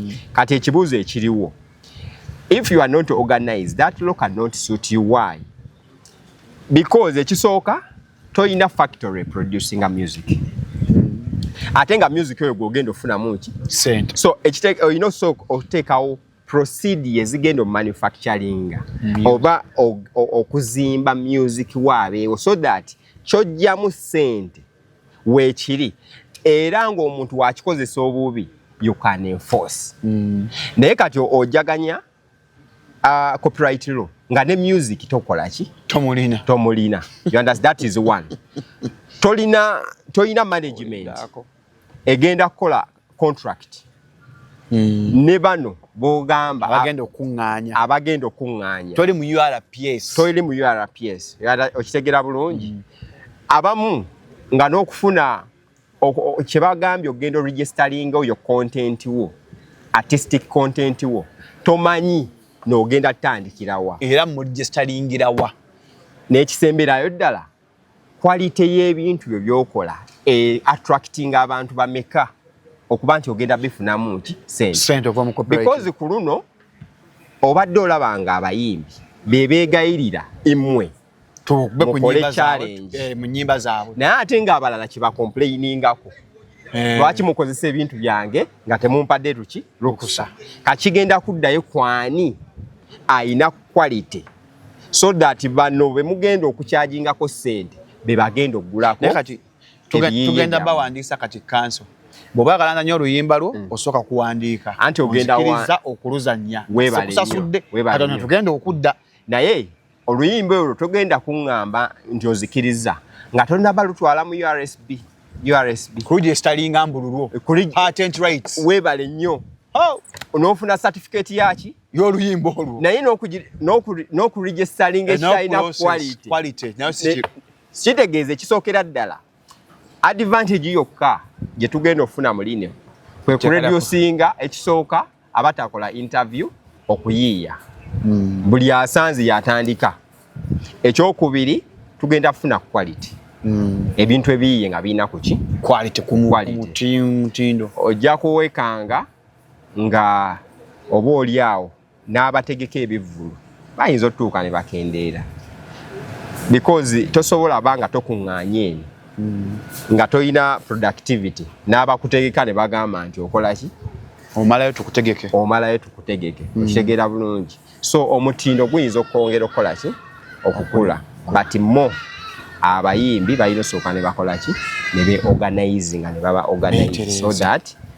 mm. kati ekibuuzo ekiriwo if you are not organized that law cannot suit you why because ekisooka toyina factory producing a music ate nga music oyo gwogenda ofunamu ki sente so olina osooka oteekawo procedi ezigenda omanufacturinga mm. oba okuzimba music waabeewo so that kyojjamu sente weekiri era ng'omuntu wakikozesa obubi you can enforce mm. naye kati ojaganya uh, copyright law nga ne music tokola ki tomulina tomulina you understand that is one tolina tolina management egenda kukola contract hmm. ne bano bogamba abagenda okuŋŋaanya abagenda okuŋŋaanya toli mu URPS toli mu URPS okitegera bulungi hmm. abamu nga n'okufuna kye bagambye okugenda oregisteringa oyo content wo artistic content wo tomanyi n'ogenda tutandikirawa era mu registeriingirawa n'ekisemberayo ddala Quality y'ebintu byo byokola e attracting abantu bameka okuba nti ogenda bifunamu nti sente because ku luno obadde olaba nga abayimbi bebegayirira imwe mukole challenge eh, naye ate nga abalala kyebakomplainingako eh. lwaki mukozesa ebintu byange nga temumpadde tuki lukusa kakigenda kuddayo kwani ayina quality so that bano bemugenda okukyajingako sente bebagenda okugulako kati tugenda bawandiisa kati kanso bwoba agalanga nyo oluyimba lwo mm. osooka kuwandiika anti ogendairiza okuluzanya webalesasudde atona tugenda okudda naye oluyimba olwo togenda kuŋŋamba nti ozikiriza nga tonaba lutwala mu ursb ursb kuligestalinga mbululwo eh, webale nnyo oh! onofuna satifiketi yaki y'oluyimba olwo naye n'okuregistalinga ekyalina quality kitegeeza ekisookera ddala advantage yokka gye tugenda okufuna mu line kwe kureducinga ekisooka abatakola interview okuyiiya hmm. buli asanze yatandika ekyokubiri tugenda kufuna quality hmm. ebintu ebiyiye nga birina kuki quality kumutindo ojja kuwekanga nga oba oli awo n'abategeka ebivvulu bayinza otutuuka ne bakendeera because tosobola ba nga tokuŋŋaanye eno hmm. nga tolina productivity n'abakutegeka ne bagamba nti okola ki omalayo tukutegeke omalayo tukutegeke hmm. okitegeera bulungi so omutindo guyinza okwongera okukola ki okukula but mo abayimbi balina osooka ne bakola ki ne beorganize nga ne baba organize so that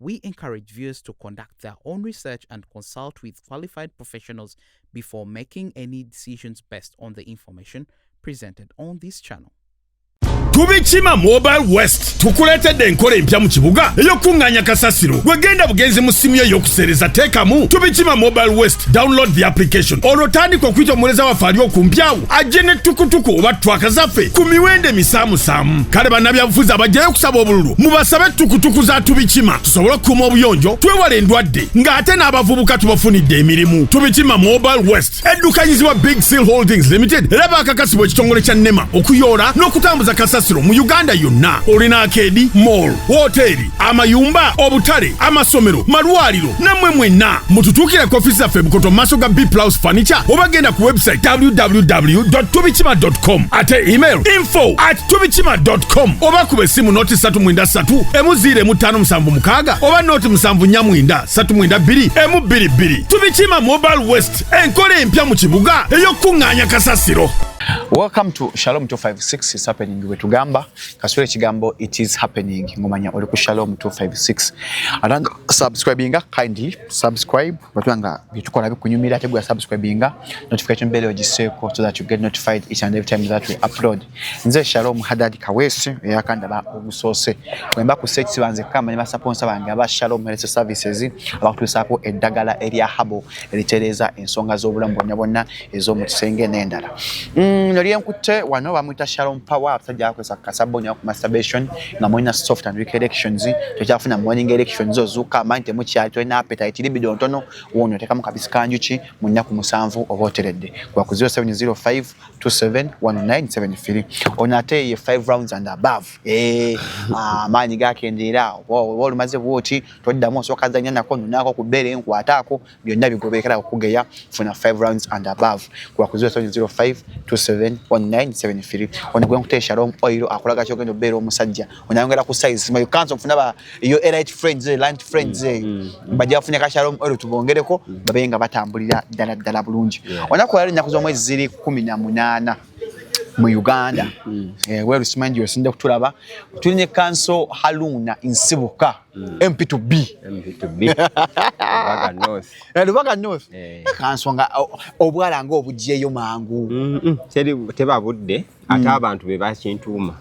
we encourage viewers to conduct their own research and consult with qualified professionals before making any decisions based on the information presented on this channel. tubikima mobile west tukuleetedde enkola empya mu kibuga ey'okukuŋŋaanya kasasiro wegenda bugenzi mu ssimu yo ey'okuseereza teekamu tubikima mobile west download the application olwo tandika okuyita omuweereza waffe ali okumpyawo ajje ne tukutuku oba twaka zaffe ku miwendo emisaamusaamu kale bannabyabufuzi abajjayo okusaba obululu mubasabe tukutuku za tubikima tusobole okukuuma obuyonjo twewala endwadde ng'ate n'abavubuka tubafunidde emirimu tubikima mobile west eddukanyizibwa big seal holdings limited era bakakasibwa ekitongole kya nema okuyoola n'okutambuza kasasiro mu uganda yonna olina akeedi mall woteeri amayumba obutale amasomero malwaliro namwe mwenna mututuukire ku ofiisi zaffe bukoto maaso ga b plus furniture oba genda ku website www tubikima com ate email info at tubikima com oba kuba essimu noti 3 mwenda 3 emu ziira emu ttaano musanvu mukaaga oba noti musanvu nnya mwenda 3 mwenda bbiri emu bbiri bbiri tubikima mobile west enkola empya mu kibuga ey'okukuŋŋaanya kasasiro Welcome to Shalom 256 is happening wetugamba kasula ekigambo it is happening ngomanya oli ku shalom 256 atanga subscribinga kindly subscribe batula nga byetukola bikunyumira ate gwa subscribinga notification bell ogiseeko so that you get notified each and every time that we upload nze shalom hadadi kawesi eyakandaba ogusoose wemba ku search banze kama ne basaponsa bange aba shalom health services abakutuusaako eddagala erya habo eritereeza ensonga z'obulamu bwonna bwonna ez'omu kisenge n'endala mm, nali enkutte wano bamuyita shalom power abasajja bakozesa kasabbo nyo ku masturbation nga mulina soft and weak elections tokyafuna morning elections ozuuka amanyi temukyali tolina appetite libido ntono wono otekamu kabisi kanjuki mu nnaku musanvu oba oteredde gwa ku 0705 271973 ono ate ye 5 rounds and above eh, ah, amaanyi gakendeera oba olumaze bwoti toddamu osooka zanya nako nonako ku bbeere enkwataako byonna bigoberekera okugeya funa 5 rounds and above kuba ku 0705271973 ono gwe nkutee shalom oil akulaga kyogenda obeera omusajja onayongera ku size sima yukanso nfuna ba yo elite friends eh, lunch friends mm, eh. mm, mm. bajja bafunya ka shalom oil tubongereko babe nga batambulira ddala ddala bulungi onaku yali ennaku z'omwezi ziri kumi na munaana mu uganda eh, werusimanji osinda kutulaba tuli ne kanso haluna nsibuka Mm. MP to B. MP to B. Lubaga North. Eh, Lubaga North. Eh. Kansonga obwala nga obujjeyo mangu. Mm -mm. Teri teba budde ate mm. abantu be bakintuuma.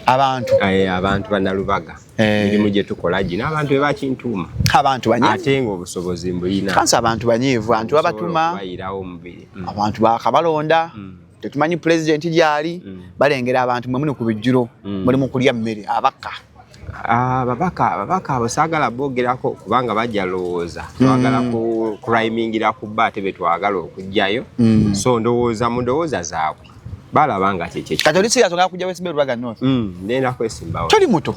Abantu. Eh, abantu bana Lubaga. Eh. Mirimu gye tukola gino abantu be bakintuuma. Abantu banyivu. Ate nga obusobozi mbuyina. Kansa abantu banyivu, abantu babatuma. Bayirawo omubiri. Mm. Abantu bakabalonda. Mm. Tetumanyi pulezidenti gyali mm. balengera abantu mwe muli ku bijjulo mm. mulimu kulya mmere abakka. ababaka ah, ababaka abo saagala boogerako kubanga bajja lowooza mm. twagala kucrimingira ku bba ate betwagala okugjayo mm. so ndowooza mu ndowooza zaabwe balaba nga kyekyekyekatolisigasonakujawesimberubaga noti mm, nenda kwesimbawo toli muto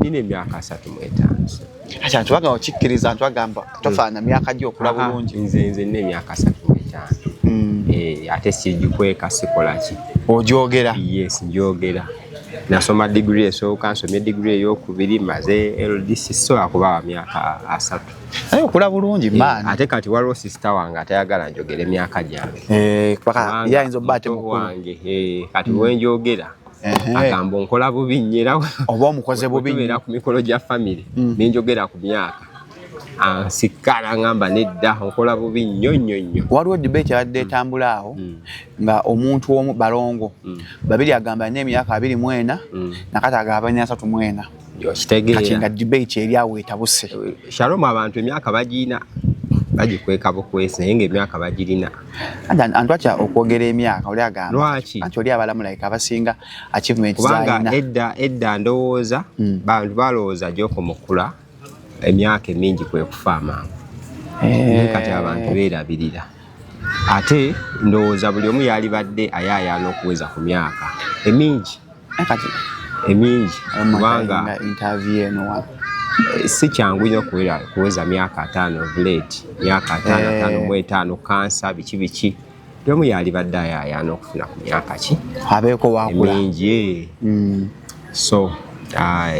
nina emyaka asatu mwetaano Acha ntuwaga okikkiriza ntwagamba hmm. tofaana myaka gyo okula bulungi. Nze nze nne myaka 3 n'ettaano. Hmm. Eh, ate sigikweka sikola ki? Ogyogera? Yes, ngyogera. Nasoma digiri esooka, nsomye digiri ey'okubiri, maze LDC sola kuba wa myaka asatu. Naye okula bulungi eh, maani. Ate kati waliwo sisita wange atayagala njogere myaka gyange. Eh, paka yayinza obba ate mukulu. Wange, eh, kati mm. wenjogera. agamba onkola bubi nnyo era oba omukoze bubi nnyo ku mikolo gya famire mm. ne njogera ku myaka ansikka nangamba nedda onkola bubi nnyo nnyo nnyo waliwo debate yabadde mm. etambula awo mm. nga omuntu omu balongo babiri agamba nina emyaka abiri mwena nakati agabanya asatu mwena kati nga debate eri awo etabuse eh, shalom abantu emyaka bagiina bagikweka bukwesi naye ngaemyaka bagirina antwakya okwogera emyaka oli agambaki anti oli abalamulaika abasinga achievement kubanga edda edda ndowooza hmm. bantu balowooza gyoko mukula emyaka emingi kwekufa amangu eh. kati abantu beerabirira ate ndowooza buli omu yalibadde ayaayaana okuweza ku myaka emingi emingi kubanga eh, si kyangu nyo kuweza myaka ataano blade myaka ataano eh. ataano mu etaano kansa biki biki buli omu yalibadde ayaayaana okufuna ku myaka ki abeeko waakula emingi eh. mm. so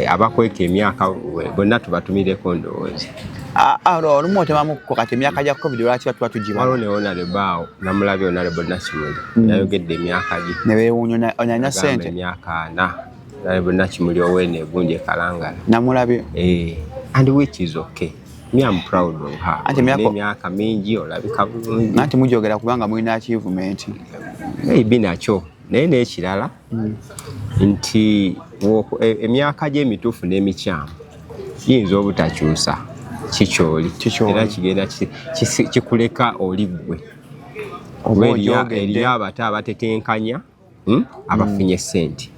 abakweka emyaka bonna tubatumireko ndowooza ah, ah, olumu otemamukko kati emyaka gya covid lwaki batuba tugiwaliwo ne onalebo awo namulabye onalebo nakimuli mm. nayogedde emyaka gye nebewuunya onyanya sente emyaka ana nalebo nakimuli owene egunje kalangala namulabye eh, and which is okay emyaka mingi olabika bulungi nanti mujogera kubanga mulina achievement maybe nakyo naye nekirala nti e, emyaka gye emituufu n'emikyamu giyinza obutakyusa kikyoli era kigenda kikuleka oli ggwe oba eriyo abato abatetenkanya hmm, abafunye hmm. ssente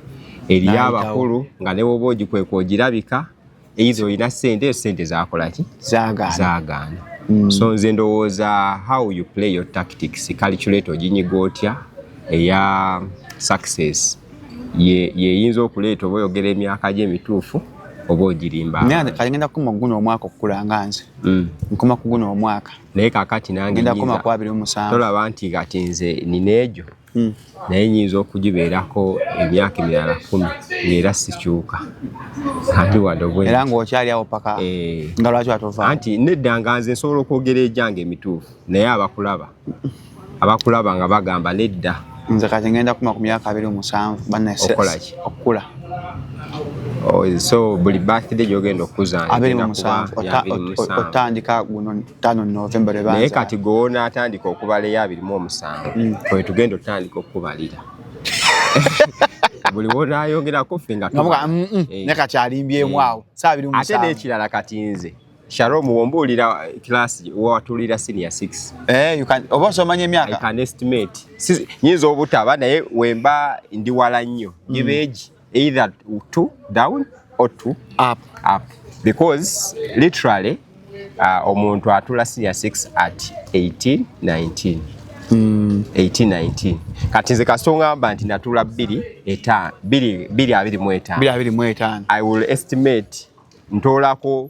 eriyo abakulu nga newoba ogikweka ogirabika either olina sente sente zakolaki zagaana mm. so nze ndowooza how you play your tactics calculate oginyiga otya eya success yeyinza ye okuleeta oba oyogera emyaka gye emituufu oba ogirimbakagenda kukuma kuguno omwaka okukula nga nze mm. nkuma kuguno omwaka naye kakati nange tolaba nti kati nze nina egyo hmm. naye nyinza okugibeerako emyaka emirala kumi ngaera sikyuka era ngaokyali awo paka eh. nga lwaki watova anti nedda nga nze nsobola okwogera ejange emituufu naye abakulaba abakulaba nga bagamba nedda nze kati ngenda kuma ku myaka abiri omusanvu banaokolaki okukula oh, so buli birthday gyogenda okuzanotandika guno tano November ebanza. Naye kati gona atandika okubala ya biri mu omusango. Mm. Kwe tugenda otandika okubalira. Buli wona ayongera kufe nga tuba. Mm, mm. Eh. Ne kati alimbye mwao. Eh. Saa biri mu omusango. Ate ne kirala kati nze. Sharom wombuulira eh, class wewatuulira senior 6. Eh, you can oba osomanya emyaka. I can estimate. Nyinza obutaba naye wemba ndi wala nnyo. Gibeji. Mm. either to down or to up, up. because literally uh, omuntu atula senior sex at 18 19 mm. 18 19 kati nze kasita ongamba nti natula bbiri etaano bbiri abiri mu etaano i will estimate ntoolako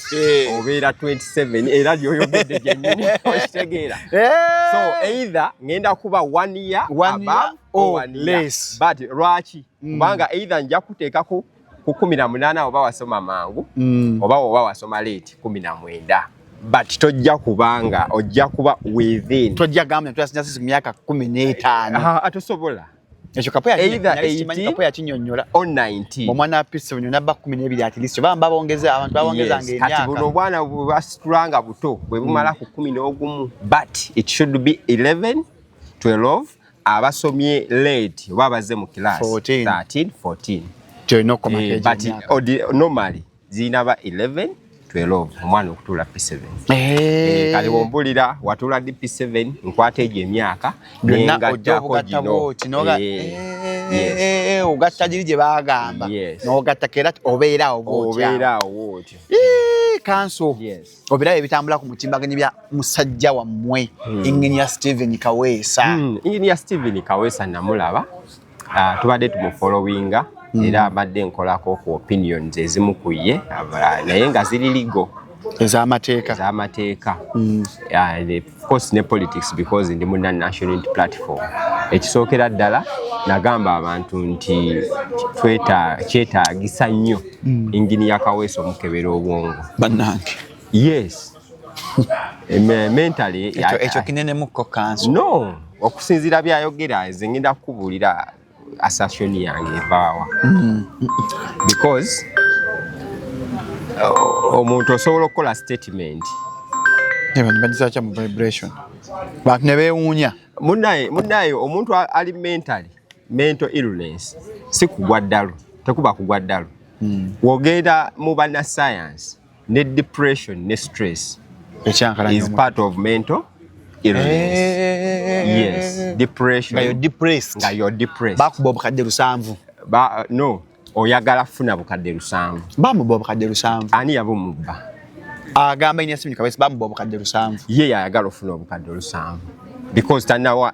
eh. obeera 27 era lyoyogedde gyenyini okitegeera eh. so either ngenda kuba one year above or one year but lwaki mm. kubanga either nja kuteekako ku kumi na munaana oba wasoma mangu mm. oba oba wasoma late kumi na mwenda but tojja kubanga ojja kuba within tojja gamba nti twasinyasisi ku myaka kumi n'etaano ah, atosobola ekyo kapoya kinyonyola omwana apisi bunyona ba kumi nebiri atilisto bamba bongeza abantu babongeza yes. ngenyaka buno obwana bwebasitula nga buto bwebumala mm. ku kumi n'ogumu but it should be 11 12 abasomye late oba abazze mu class 13 14 eh, but normally zirina ba 11 12 omwana okutuula p7 eh. kale wombulira watuula di p7 nkwata egyo emyaka nengattako gino ogatta giri gye bagamba nogatta kera obeerawo obeerawo otyo kanso obiraba ebitambula ku mutimbaganyi bya musajja wammwe hmm. enginia steven kaweesa enginia hmm, steven kaweesa namulaba Ah, tubadde tumufolowinga hmm. era abadde nkolako ku opinions ezimu ku ye naye nga ziri ligo ezamateeka ezamateeka hmm. ah, course ne politics because ndi muna national platform ekisookera ddala nagamba abantu nti kyetaagisa nnyo hmm. ingini ya kaweesa omukebera obwongo bannange yes ekyo kinenemukko kanso no okusinzira byayogera nze ngenda kukubuulira asasoni yange evaawa mm-hmm. because uh, omuntu osobola okukola statement bajizakya mu vibration bantu ne beewuunya munaye munaye omuntu ali mentally mental illness si kugwa ddalu tekuba kugwa ddalu mm. wogenda mu banasayansi ne depression ne stress ekyankalanya is part of mental illness eh. yes depression nga you're depressed nga you're depressed bakuba obukadde lusanvu ba uh, no oyagala kufuna bukadde lusanvu bamuba obukadde lusanvu ani yabumubba agamba ina simu kabisa bamuba obukadde lusanvu ye yayagala ofuna obukadde lusanvu because tanawa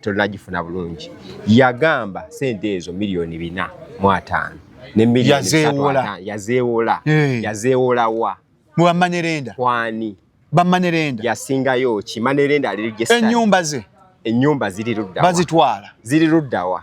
tolunagifuna bulungi yagamba sente ezo miliyoni bina mu ataano ne miliyoni yazeewola yazeewola wa muwamanerenda kwani bamanerenda yasingayo ki manerenda ali register enyumba ze enyumba ziri ludda bazitwala ziri ludda wa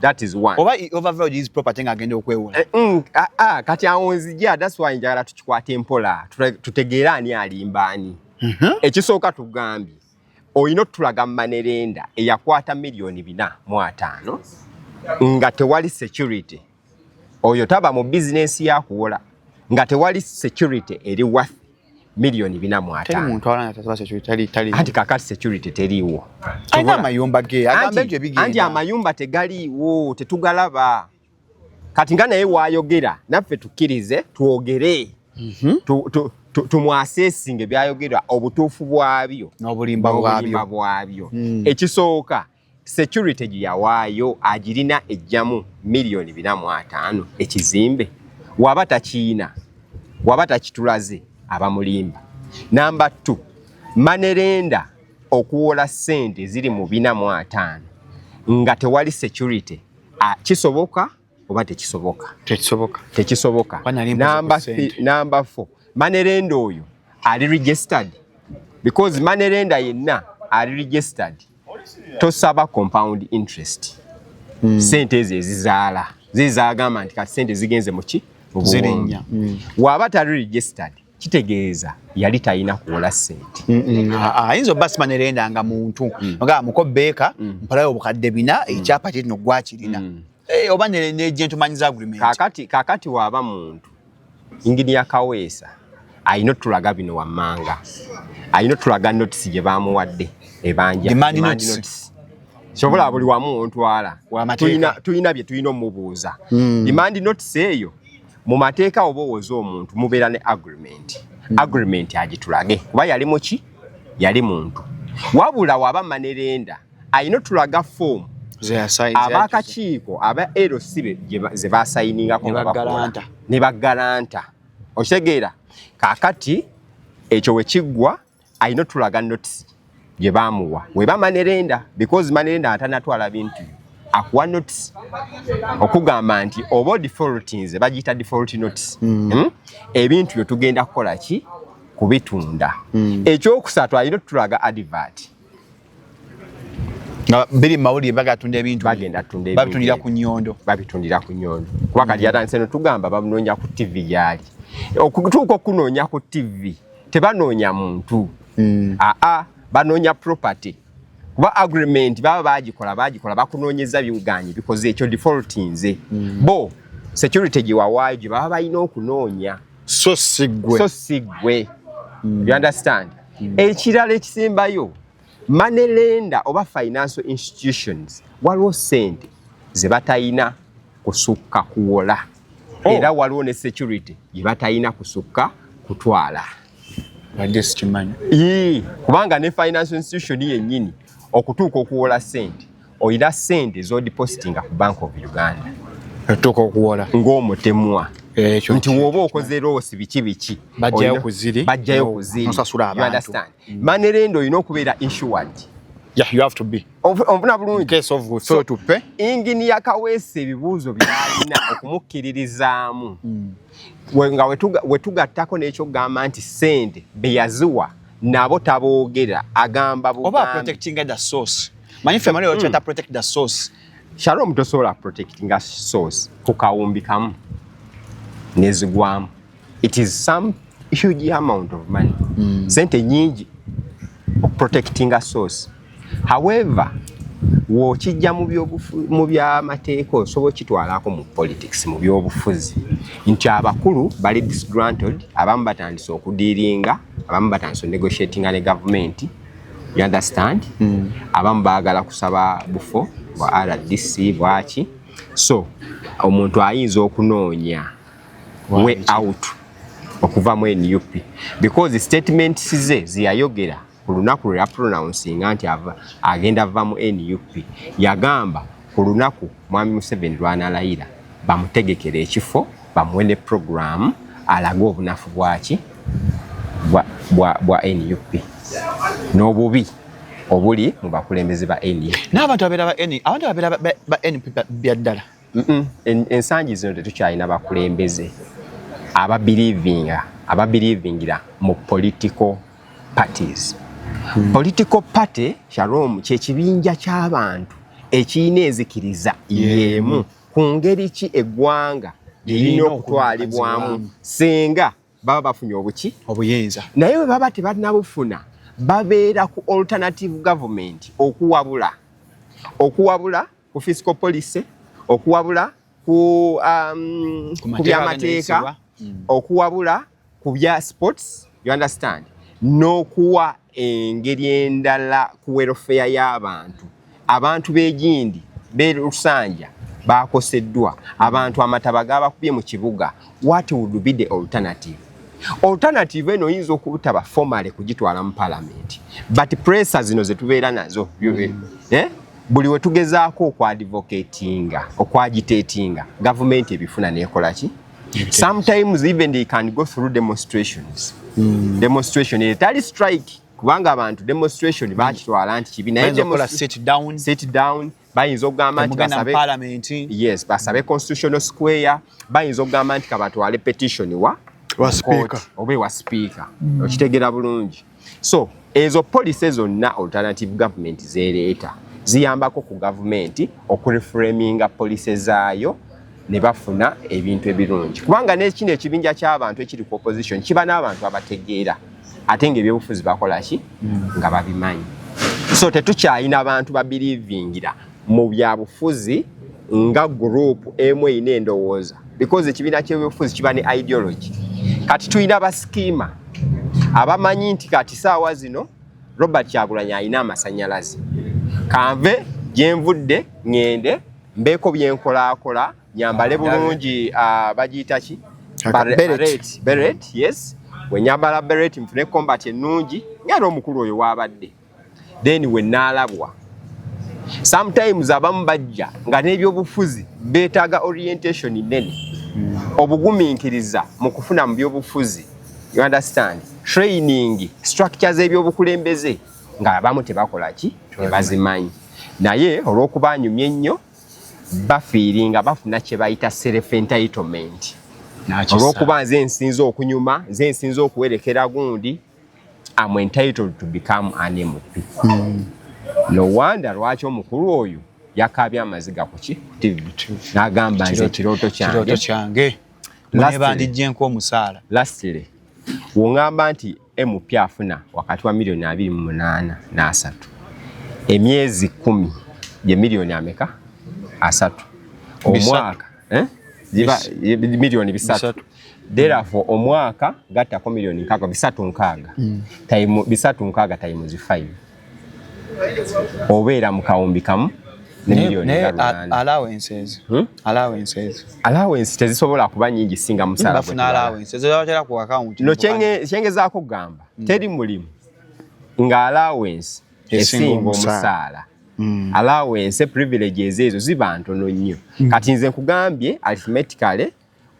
that is one oba overvalued his property nga agenda okwewola eh, mm, ah, ah, kati awo nzija that's why njagala tukikwate mpola tutegeere ani alimba ani mhm. ekisooka tugambye olina otulaga manerenda eyakwata miliyoni bina mu ataano nga tewali security oyo taba mu bizinensi yakuwola nga tewali security eri wathi milioni bina mu ataano. Teri muntu alana tasaba security tali tali. Anti kakati security teriiwo. Alina amayumba ge agambe nti ebigenda. Anti amayumba tegaliiwo tetugalaba. Kati nga naye waayogera naffe tukkirize twogere. Mm -hmm. tu, tu, tumwasesinge byayogera obutuufu bwabyo n'obulimba bwabyo mm. ekisooka security gye yawaayo agirina ejjamu miliyoni bina mu ataano ekizimbe waba takiina waba takitulaze abamulimba namba t manerenda okuwola ssente ziri mu bina mu ataano nga tewali security kisoboka oba tekisoboka tekisoboka tekisoboka namba namba 4 manerenda oyo ali registered because manerenda yenna ali registered tosaba compound interest mm. sente ezo ezizaala zizagamba nti kati sente zigenze muki mubuwombi mm. waba tali registered kitegeeza yali talina kuwola sente mm, mm, ah, ah, ayinza oba simanya erenda nga muntu mm. nga muko beeka mpalayo obukadde bina ekyapa kyetino gwakirina eh, oba negentumanyiza agreement kakati kakati waba muntu ingini ya kaweesa ayina otulaga bino wammanga ayina otulaga notisi gye bamuwadde ebanja sobola buli wamu ontwala tulina bye tulina omubuuza imandi notisi eyo mu mateeka oba owoza omuntu mubeera ne agreement hmm. agreement agitulage kuba yali muki yali muntu wabula waba manerenda alina otulaga foomu abakakiiko aba lc ze basayiningako ne bagalanta okitegeera kakati ekyo wekiggwa alina otulaga notisi gye baamuwa weba manerenda because manerenda atanatwala bintu akuwa notisi okugamba nti oba odifoltinze bagiyita default notisi mm. hmm? ebintu byo tugenda kukola ki kubitunda mm. ekyokusatu alina otulaga adivati nga biri mawulire bagatunda ebintu babitundira ku nyondo babitundira ku nyondo kuba kati yatandise no tugamba bamunoonya ku ttivi gyali okutuuka okunoonya ku ttivi tebanoonya muntu hmm. aa banoonya property kuba agreement baba bagikola bagikola bakunoonyeza biwuganye bikoze ekyo default nze hmm. bo security gyewawaayo gye baba balina okunoonya so sigwe so sigwe hmm. you understand Hmm. Ekirala ekisembayo money lender oba financial institutions waliwo sente ze batayina kusukka kuwola oh. era waliwo ne security ye batayina kusukka kutwala kubanga ne financial institution yennyini okutuuka okuwola sente oyina sente zodipositinga ku bank of uganda tuka okuwola ng'omutemwa ekyo nti woba okoze loosi biki biki bajjayo ku ziri bajjayo ku ziri musasula abantu mm. manerenda olina okubeera insured yeah you have to be onfuna bulungi case of so to pay engine ya kawese ebibuuzo byalina okumukkiririzaamu mm. nga wetugattako n'ekyokugamba nti sente beyaziwa nabo taboogera agamba oba protectinga the source manyi ffe mali okyata mm. protect the source shalom tosobola protectinga source ku kawumbi kamu nezigwamu it is some huge amount of money mm. sente nyingi protectinga source however wokijja mu byamateeka osobola okitwalako mu politics mu byobufuzi nti abakulu bali disgranted abamu batandise okudiiringa abamu batandise onegotiatinga ne gavumenti you understand mm. abamu baagala kusaba bufo bwa rdc bwaki so omuntu ayinza okunoonya way out okuva mu nup because statements ze zeyayogera ku lunaku lwe yapronouncinga nti agenda va mu nup yagamba ku lunaku mwami museveni lwanalayira bamutegekera ekifo bamuwe ne programu alage obunafu bwaki bwa, bwa, bwa nup n'obubi obuli mu bakulembeze ba nup n'abantu abeera ba nup abantu abeera ba nup byaddala ensangi zino tetukyalina bakulembeze ababilivinga ababilivingira mu political parties hmm. political party shalom kyekibinja kyabantu ekirina enzikiriza yemu ku ngeri ki eggwanga lirina okutwalibwamu singa baba bafunye obuki obuyinza naye bwe baba tebanabufuna babeera ku alternative government okuwabula okuwabula ku fiscal policy okuwabula ku um, ku byamateeka mm. okuwabula ku bya sports you understand n'okuwa engeri endala ku welfare y'abantu abantu b'egindi b'e lusanja bakoseddwa abantu amataba gabakubye mu kibuga what would be the alternative alternative eno oyinza okutaba formale kugitwala mu palamenti but pressure zino zetubeera nazo mm. eh? buli we tugezaako okwadvocatinga okwagitatinga gavumenti ebifuna nekola ki sometimes even they can go through demonstrations mm. demonstration etali strike kubanga abantu demonstration hmm. bakitwala nti kibi naye sit down bayinza okugamba nti basabe yes basabe constitutional square bayinza okugamba nti kabatwale petition wa oba ewa sipiika hmm. okitegera bulungi so ezo policy zonna alternative government zereeta ziyambako ku gavumenti okureframinga policy zaayo ne bafuna ebintu ebirungi kubanga nekino ekibinja ky'abantu ekiri ku opposition kiba n'abantu abategeera ate nga ebyobufuzi bakola ki hmm. nga babimanyi so tetukyalina bantu babirivingira mu byabufuzi nga group emu erina endowooza because ekibiina kyebyobufuzi kiba ne ideology kati tulina basikima abamanyi nti kati saawa zino robert kyagulanyi alina amasanyalaze kanve gyenvudde ŋŋende mbeeko byenkolaakola nyambale bulungi uh, bagiyita ki beret yes wenyambala beret nfune combat ennungi ngaera omukulu oyo waabadde then we nalabwa sometimes abamu bajja nga n'ebyobufuzi beetaaga orientation nene obugumiikiriza mu kufuna mu byobufuzi you understand training structure z'ebyobukulembeze nga abamu tebakola ki tebazimanyi naye olw'okuba anyumye ennyo bafiiringa bafuna kye bayita self entitlement olw'okuba nze nsinza okunyuma nze nsinza okuwerekera gundi am entitled to become an MP mm. no wonder lwaki omukulu oyo yakabya amaziga kuki TV nagamba nze kiroto kyange kiroto kyange mune bandijje nko omusala lastly wongamba nti MP afuna wakati wa milioni abiri mu munana na asatu emyezi kumi je milioni ameka asatu omwaka eh? ziba eh, milioni bisatu therefore omwaka gattako milioni nkaaga bisatu nkaaga mm. time bisatu nkaaga time zi 5 obeera mu kawumbi kamu hmm? allowances tezisobola kuba nyingi singa musalakyengezaako kugamba hmm. teri mulimu nga allowance esinga omusaala mm. allowance privileges ezo ziba ntono nnyo mm. kati nze nkugambye arithmetically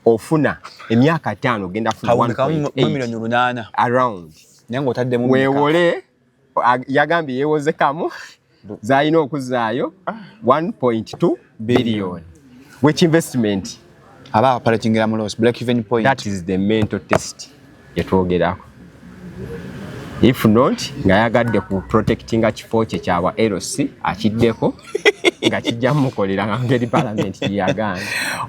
ofuna emyaka ttaano ogenda funa 1.8 around wewole yagambye yewozekamu zalina okuzaayo 1.2 billion which investment aba operating la loss black even point that is the mental test yetwogerako if not nga yagadde ku protecting a kifo kye kyawa LC akiddeko nga kijja mukolera nga ngeri parliament yagana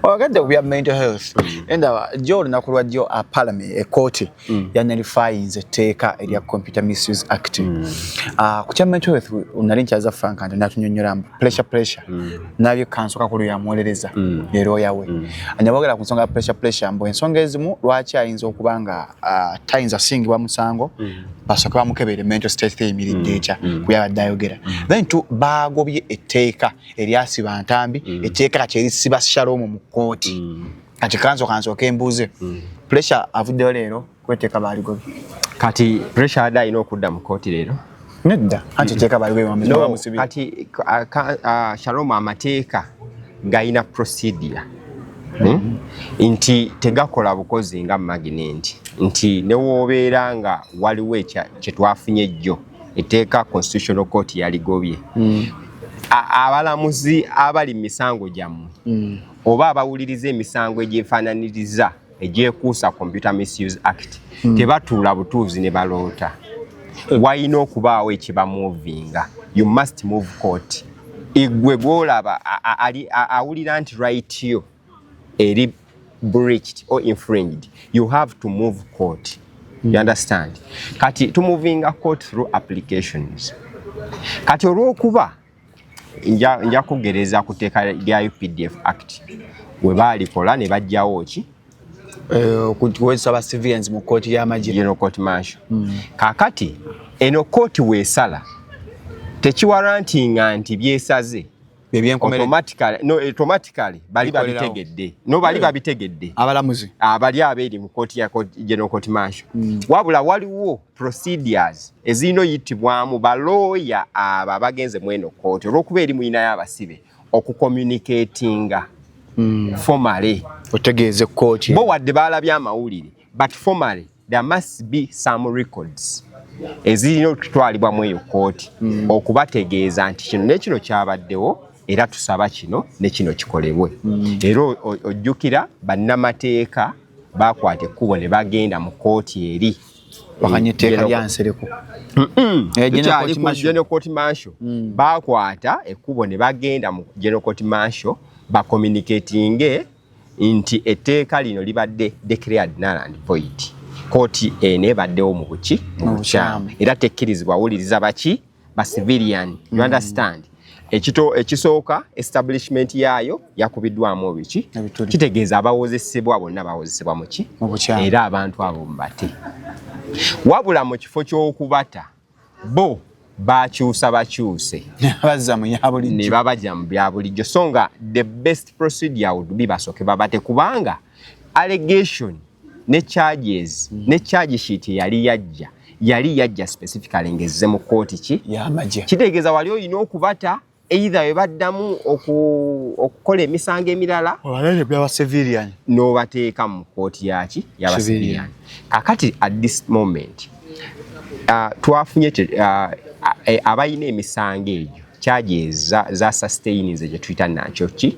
oyagadde ku bya mental health enda jo olunaku lwa jo a parliament ekoti mm. yanalifayinze etteeka erya mm. computer misuse act mm. uh, ku kya mental health nali nkyaza frank nti natunyonyola mbu pressure pressure mm. nabyo kansoka ku lweyamuwolereza mm. ne looya we mm. nabogera ku nsonga ya pressure pressure mbu ensonga ezimu lwaki ayinza okuba nga uh, tayinza asingibwa musango mm. basooke bamukebere mental state theyimiridde mm. etya mm. kuyabadde ayogera mm. then tu baagobye etteeka eryasiba ntambi mm. etteeka kakyerisiba shalom mu kkooti mm. kati kanso kanso kembuze mm. pressure avuddeyo leero kweteka baligobi kati pressure ada ino okudda mu koti leero nedda anti teka baligobi wa mzee musibi kati uh, shalom amateka gaina procedure hmm? nti tegakola bukozi nga magnet nti newobeera nga waliwo kyetwafunye jjo eteeka constitutional court yaligobye mm. abalamuzi abali misango gyammwe mm. oba abawuliriza emisango egyefaananiriza egyekuusa computer misuse act hmm. tebatuula butuuzi ne baloota eh. walina okubaawo ekibamuvinga you must move court igwe gwolaba awulira nti right yo eri breached or infringed you have to move court hmm. you understand kati tumuvinga court through applications kati olwokuba nja kugereza ku tteeka lya updf act we baalikola ne bajjawo ki eh, okuwezesa ba civilians mu kkooti y'amagino court martial hmm. kaakati eno kkooti weesala tekiwarantinga nti byesaze automatically bali babitegedde no bali babitegedde abalamuzi abali abeeri mu kkooti ya general court martial hmm. wabula waliwo procedures ezirina oyitibwamu balooya abo abagenze mweno kooti olwokuba eri muyinayo abasibe okucommunicatinga mm. formale otegeeze kooti bo wadde baalabye amawulire but formale there must be some records ezirina okutwalibwa mu eyo kooti mm. okubategeeza nti kino nekino kyabaddewo era tusaba kino ne kino kikolebwe mm. era ojjukira bannamateeka bakwata ekkubo ne bagenda mu kooti eri wakanya etteeka lya nsereko general court martial mm. bakwata ekkubo ne bagenda mu general court martial bacommunicatinge nti etteeka lino libadde declared null and void kooti eno ebaddewo mu buki mu bukyamu era tekkirizibwa wuliriza baki ba civilian you mm. understand ekito ekisooka establishment yaayo yakubiddwamu biki kitegeeza abawozesebwa bonna bawozesebwa muki era abantu abo mubate wabula mu kifo ky'okubata bo bakyusa bakyuse ne babajja mu bya bulijjo so nga the best procedure would be basooke babate kubanga allegation ne charges mm. ne charge sheet yali yajja yali yajja specifically ngezze mu kooti ki yamaje kitegeeza wali olina okubata either webaddamu okukola emisango emirala nobateeka mu kooti yaki yabasivilian kakati at this moment uh, twafunye uh, abalina emisango egyo charges za, za sustainze gyetuyita nakyo ki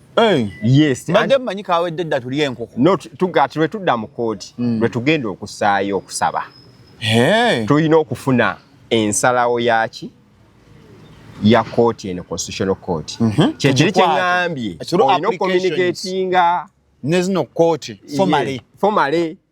Eh. Yes. Mbadde mmanyi kawedde dda tulye enkoko. No, tugati lwe tudda mu kkooti hmm. lwe tugenda okusaayo okusaba. Eh. Tulina okufuna ensalawo yaki ya kkooti eno constitutional court. Mhm. Kyekiri kye ngambye. Olina okukomuniketinga. Nezino kkooti. Fomale. Fomale.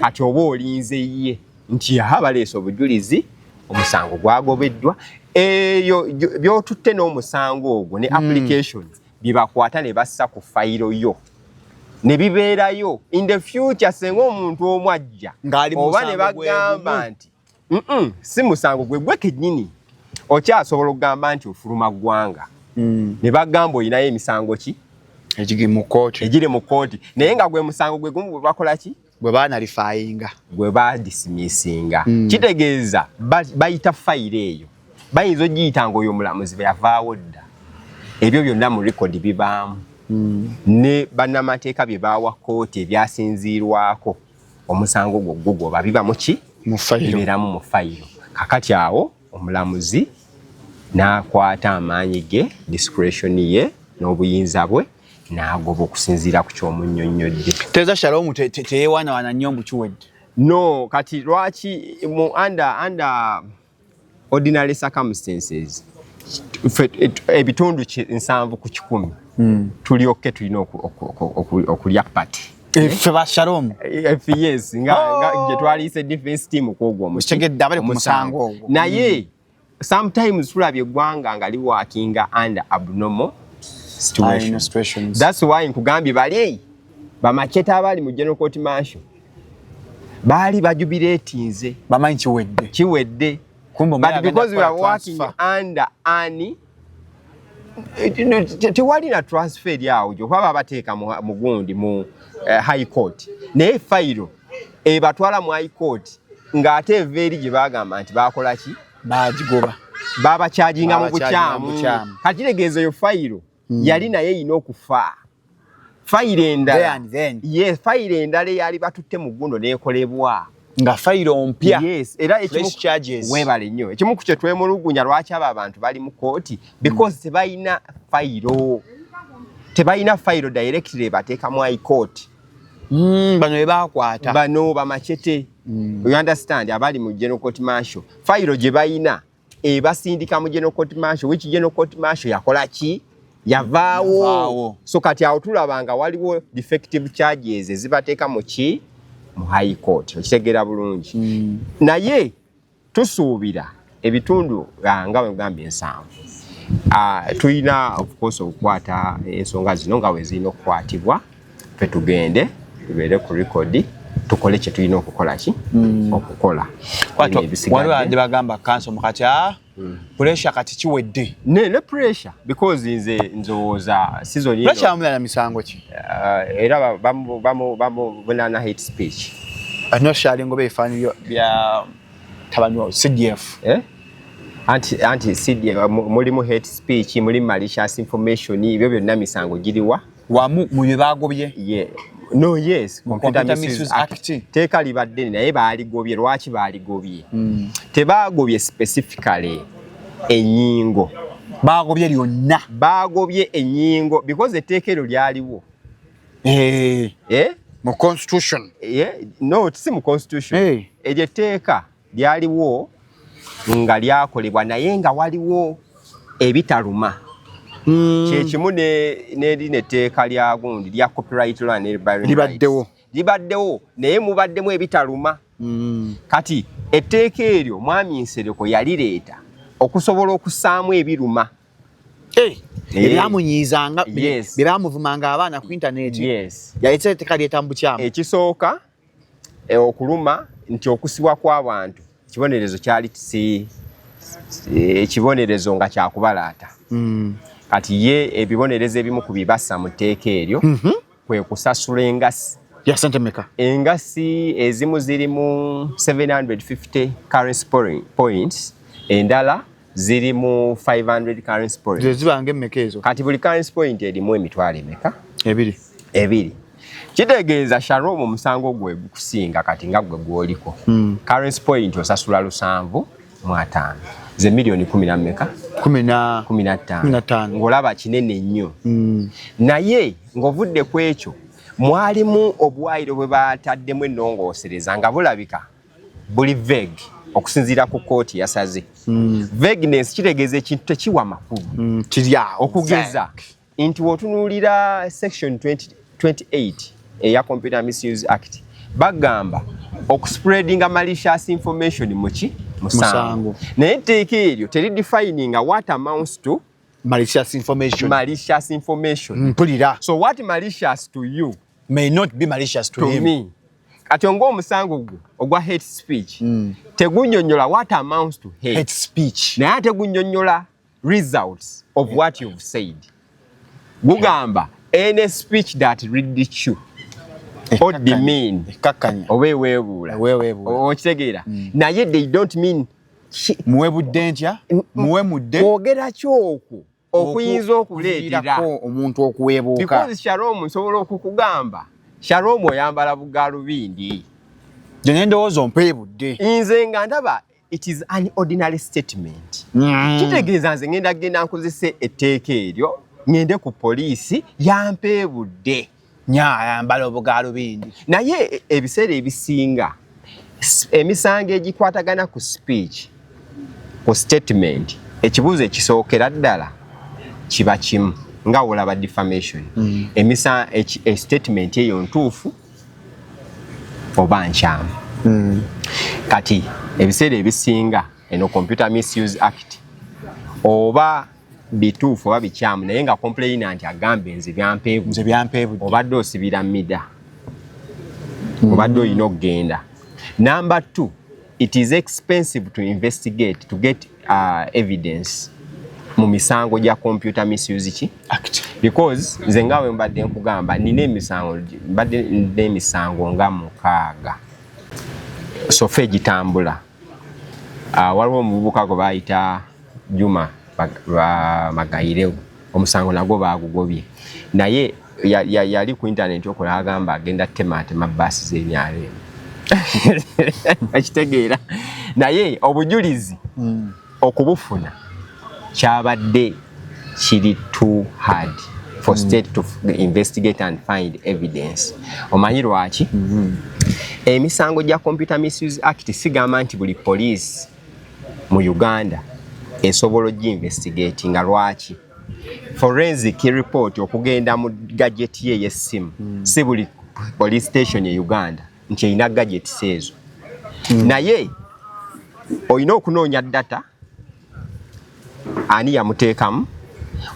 kati oba olinze ye nti aha baleese obujulizi omusango gwagobeddwa eyo byotutte n'omusango ogwo ne hmm. application byebakwata ne bassa ku fayiro yo ne bibeerayo in the future senga omuntu omu ajja oba ne bagamba nti mm si musango gwe gwe kenyini okyasobola okugamba nti ofuluma ggwanga mm. ne bagamba olinayo emisango ki egiri mu kooti egiri mu kooti naye nga gwe musango gwe gumu bwe bakola ki gwe baanalifayinga gwe badisimisinga mm. kitegeeza bayita fayiro eyo bayinza ogiyita nga oyo omulamuzi bwe yavaawo dda ebyo byonna mu rekodi bibaamu mm. ne bannamateeka bye baawa kooti ebyasinziirwako omusango gwo gugoba biba muki mufayiroberamu mu fayiro kakati awo omulamuzi n'akwata amaanyi ge discretion ye n'obuyinza bwe n'agoba okusinziira ku ky'omunnyonnyodde teeza shaloomu teyewaanawaana nnyo mbu kiwedde no kati lwaki mu anda anda ordinary circumstances ebitundu nsanvu ku kikumi hmm. tulyokke tulina okulya pati ffe ba shalom yes nga oh. gye twaliyise defense team kwogwo omukitegedde abali ku musango ogwo naye hmm. sometimes tulabye eggwanga nga liwakinga under abnormal situations that's why nkugambye bali bamacheta abali mu general court mansion baali bajubireetinze bamanyi kiwedde kiwedde but because we are working under ani tewali na transfer eri awo gyokuba babateeka mu gundi mu eh, high court naye fayiro ebatwala mu high court ng'ate eva eri gye bagamba nti bakolaki bagigoba babakyajinga mu bukyamu kati tegeeza eyo fayiro mm. yali naye yina okufa fayiro endala ye fayiro endala eyali batutte mu gundo nekolebwa nga fayiro ompya yes. era webale nnyo ekimu ku kyetwemulugunya lwaki abo abantu bali mu kooti because mm. tebalina fayiro tebalina fayiro directly ebateekamu aikooti Mm, bano bebakwata bano bamacete mm. you understand abali mu general court marshal fayiro gye balina ebasindika mu General Court Martial which General Court Martial yakola ki yavaawo so kati awo tulaba nga waliwo defective charges ezibateeka mu ki mu high court okitegeera bulungi mm. naye tusuubira ebitundu ah, nga wegamba ensanvu ah, tulina okukosa okukwata ensonga zino nga wezirina okukwatibwa fe tugende tubeere ku rekodi tukole kyetulina okukola ki hmm. okukola waliwo andi bagamba kanso mukati a ah, hmm. pressure kati kiwedde ne ne pressure because nze nzowooza season ino pressure amulana misango ki ah, era bamu bamu bamu bunana hate speech anyo shali ngobe ifani bya tabanyo CDF eh anti anti CDF mulimu hate speech mulimu malicious information ibyo byonna misango giriwa wamu mu bye baagobye no yes computer misuse act teeka libadde naye baaligobye lwaki baaligobye hmm. tebaagobye specifically enyingo baagobye lyonna baagobye enyingo because etteeka eryo lyaliwo eh. Eh? mu constitution eh? no si mu constitution eryo etteeka lyaliwo nga lyakolebwa naye nga waliwo ebitaluma hmm. kyekimu neri neteeka lya gundi lya copyright land libaddewo libaddewo naye mubaddemu ebitaluma hmm. kati etteeka eryo mwami nsereko yalireeta okusobola okusaamu ebiruma eh, eh. ebyamunyizanga byebamuvumanga abaana ku intaneti yaleeta etteeka lyetamu bukyamu ekisooka e, okuluma nti okusibwa kw'abantu kibonerezo kyali si ekibonerezo nga kyakubalaata hmm. kati ye ebibonerezo ebimu ku bibasa mu tteeka eryo mhm. kwe kusasula engasi engasi ezimu zirimu 750 currency points endala ziri mu 500 currency point zeziba ngemmeka ezo kati buli currency point erimu emitwalo emeka ebiri ebiri kitegeeza sharom omusango gwe gukusinga kati nga gwe gwoliko hmm. currency point osasula lusanvu mu ataano ze miliyoni kumi na mmeka kumi na ttaano ng'olaba kinene nnyo hmm. naye ng'ovudde ku ekyo mwalimu obuwaayiro bwe bataddemu ennongoosereza nga bulabika buli veg okusinziira ku kooti yasaze mm. vagueness kitegeeza ekintu tekiwa makulu mm, kiryawo okugeza nti wotunuulira section 20, 28 eya computer misuse act bagamba okuspreadinga malicious information muki musango naye etteeka eryo teri defininga what amounts to malicious information malicious information mpulira so what malicious to you may not be malicious to, to him. me kati onga omusango gwo ogwa hate speech mm. tegunyonyola what amounts to hate, hate speech naye ate gunyonyola results of yeah. what you've said gugamba yeah. any speech that ridicule or demean oba eweebuula okitegeera mm. naye they don't mean muwe budde ntya muwe mudde kwogera kyokwo okuyinza okuleetera omuntu okuweebuuka because shalom nsobola okukugamba shalom oyambala bugaalubindi gye nendowooza ompeebudde nze nga ndaba it is an ordinary statement mm. kitegeeza nze ngenda kugenda nkozese etteeka eryo ngende ku poliisi yampeebudde nya ayambala obugaalubindi naye e, ebiseera ebisinga emisango egikwatagana ku speech ku statement ekibuuzo ekisookera ddala kiba kimu nga olaba defamation mm. emisa e, statement eyo ntuufu oba nkyamu mm. kati ebiseera ebisinga eno computer misuse act oba bituufu oba bikyamu naye nga kompuleyina nti agambe nze byampeebunze byampeebudde obadde osibira mida mm. obadde olina okugenda namba t it is expensive to investigate to get uh, evidence mu misango gya computer misuse ki because nze nga we mbadde nkugamba nina emisango mbadde nina emisango nga mukaaga sofa egitambula so Ah, waliwo omuvubuka gwe baayita Juma Magayireu, omusango nagwo baagugobye naye yali ku intaneti okola agamba agenda temaatema baasi z'emyalo eno akitegeera naye obujulizi hmm. okubufuna kyabadde kiri too hard for mm. state to investigate and find evidence omanyi lwaki mm -hmm. emisango gya computer misuse act sigamba nti buli police mu uganda esobola ogyinvestigate nga lwaki forensic report okugenda mu gajeti ye yessimu mm. si buli police station e uganda nti erina gadgets ezo mm. naye olina okunoonya data ani yamuteekamu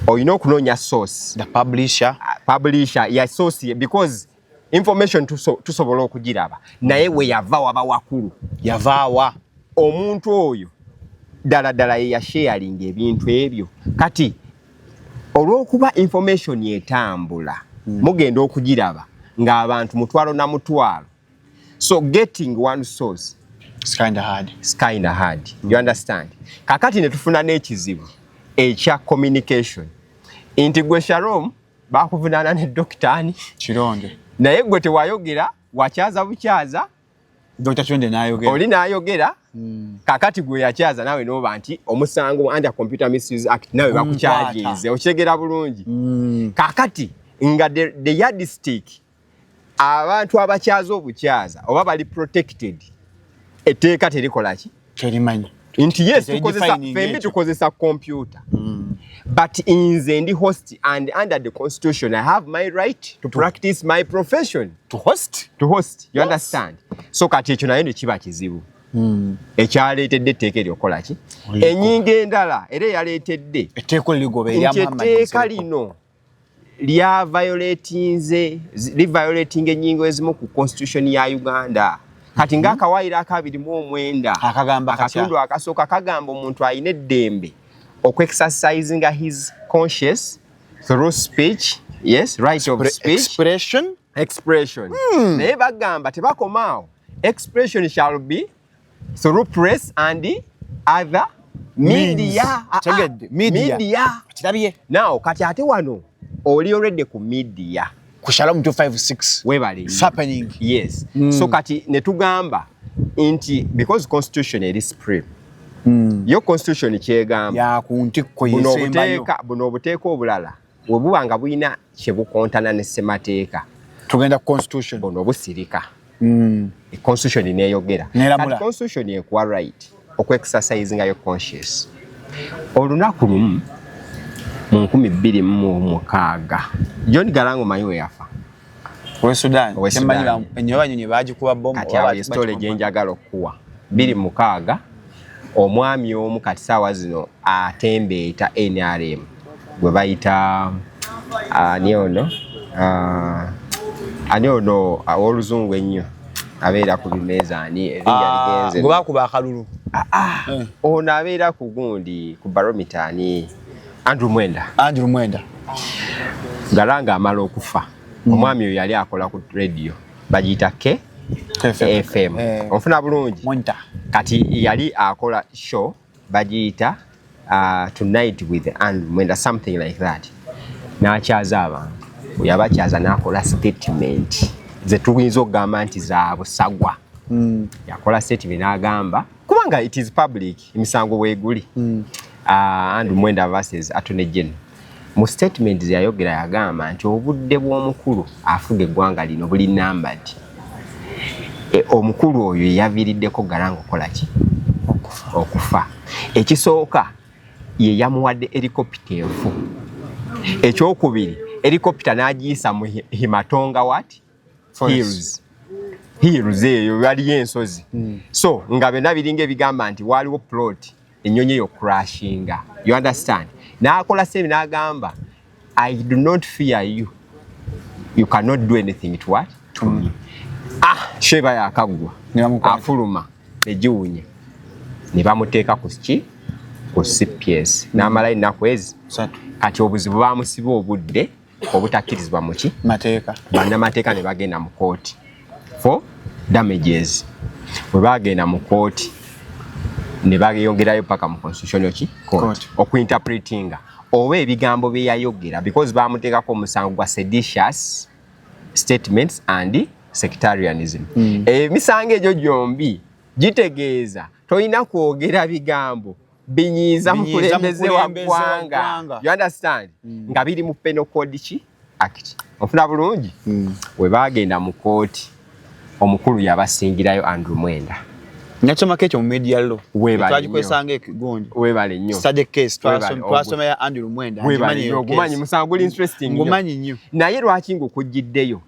olina okunoonya source the publisher uh, publisher ya source because information tusobola tuso okugiraba naye we yava waba wakulu yavaawa omuntu oyo ddala ddala ye yasharinga ebintu ebyo kati olwokuba information etambula mm. mugenda okugiraba ng'abantu mutwalo na mutwalo so getting one source it's kind of hard it's kind of hard mm. you understand kakati ne tufuna n'ekizibu ekya communication nti gwe shalom bakuvunaana ne dokitaani kironde naye gwe tewayogera wakyaza bukyaza Dr. Chonde nayogera. Oli nayogera. Mm. Kakati gwe yakyaza nawe noba nti omusango under computer misuse act nawe bakukyajize. Okyegera bulungi. Mm. Kakati nga the, the yardstick abantu abakyaza obukyaza oba bali protected. Eteeka terikola ki? kyerimanyi nti yes tukozesa fembi tukozesa computer mm. but inze ndi host and under the constitution i have my right to practice my profession to host to host you yes. understand so kati ekyo naye nekiba kizibu mm. ekyaleetedde etteeka eryokukola ki enyinga endala era eyaleetedde nti etteeka lino lya violatinze li violating enyingo ezimu ku constitution ya Uganda kati nga mhm. akawaayiro akabiri mu omwenda akagamba akatundu akasooka kagamba omuntu alina eddembe okwexercising his conscious through speech yes right of speech expression expression hmm. naye bagamba tebakomaawo expression shall be through press and other media ah, ah, media kirabye now kati ate wano oli already ku media ku shalom 256 webale it's happening yes mm. so kati ne tugamba nti because constitution eri supreme mm. yo constitution kyegamba ya ku ntikko yesembayo buno obuteeka obulala we buba nga bulina kye bukontana ne ssemateeka tugenda ku constitution bono busirika mm. e constitution neyogera kati constitution ekuwa right okwexercise nga yo conscious olunaku lumu mu nkumi bbiri mu mukaaga john galango manyi we yafa we Sudan kyemmanyi enyo banyonyi baagikuba bomu kati awo yesitole gye njagala okukuwa biri mukaaga omwami omu kati saawa zino atembeeta nrm gwe bayita ani ono ani ono ow'oluzungu ennyo abeera ku bimeeza ani erinnya ligenze gwe bakuba akalulu ono abeera ku gundi ku baromita ani Andrew Mwenda. Andrew Mwenda. Galanga amala okufa. Mm. Omwami oyo yali akola ku radio. Bajita K FM. FM. Eh. Onfuna bulungi. Mwenda. Kati yali akola show bajita uh, tonight with Andrew Mwenda something like that. Na chaza abantu. Yaba chaza na akola statement. Ze tuwinzo gamba nti za busagwa. Mm. Yakola statement agamba kubanga it is public. emisango weeguli mm. uh, ah, and mwenda verses atone gen mu statement zeyayogera yagamba nti obudde bw'omukulu afuga eggwanga lino buli nambad e, omukulu oyo yeyaviiriddeko garanga okukola ki okufa ekisooka ye yamuwadde erikopita enfu ekyokubiri erikopita n'agiyisa mu himatonga wati hills hills eyo waliyo ensozi mm. so nga byonna biringa ebigamba nti waaliwo plot ennyonyi eyo crashinga you understand n'akola sebi n'agamba i do not fear you you cannot do anything to what to mm. me ah sheba yakaggwa afuluma egiwunya ne bamuteeka ku ki ku cps n'amala ennaku ezi kati obuzibu bamusiba obudde obutakkirizibwa mu ki mateeka bannamateeka ne bagenda mu kooti for damages bwe bagenda mu kooti ne bayongerayo paka mu constitutional ki court okuinterpretinga oba ebigambo bye yayogera because baamuteekako omusango gwa seditious statements and sectarianism hmm. emisango mm. egyo gyombi gitegeeza tolina kwogera bigambo binyiiza mukulembeze wa ggwanga you understand mm. nga biri mu penal code ki act ofuna bulungi mm. we bagenda mu kooti omukulu yabasingirayo andrew mwenda nakyamako ekyo mu media lo twagikozesanga ekigonjo webale nnyo sade case twasomera andrew mwenda ngumanyi musango guli interesting ngumanyi nnyo naye lwaki ngaokugiddeyo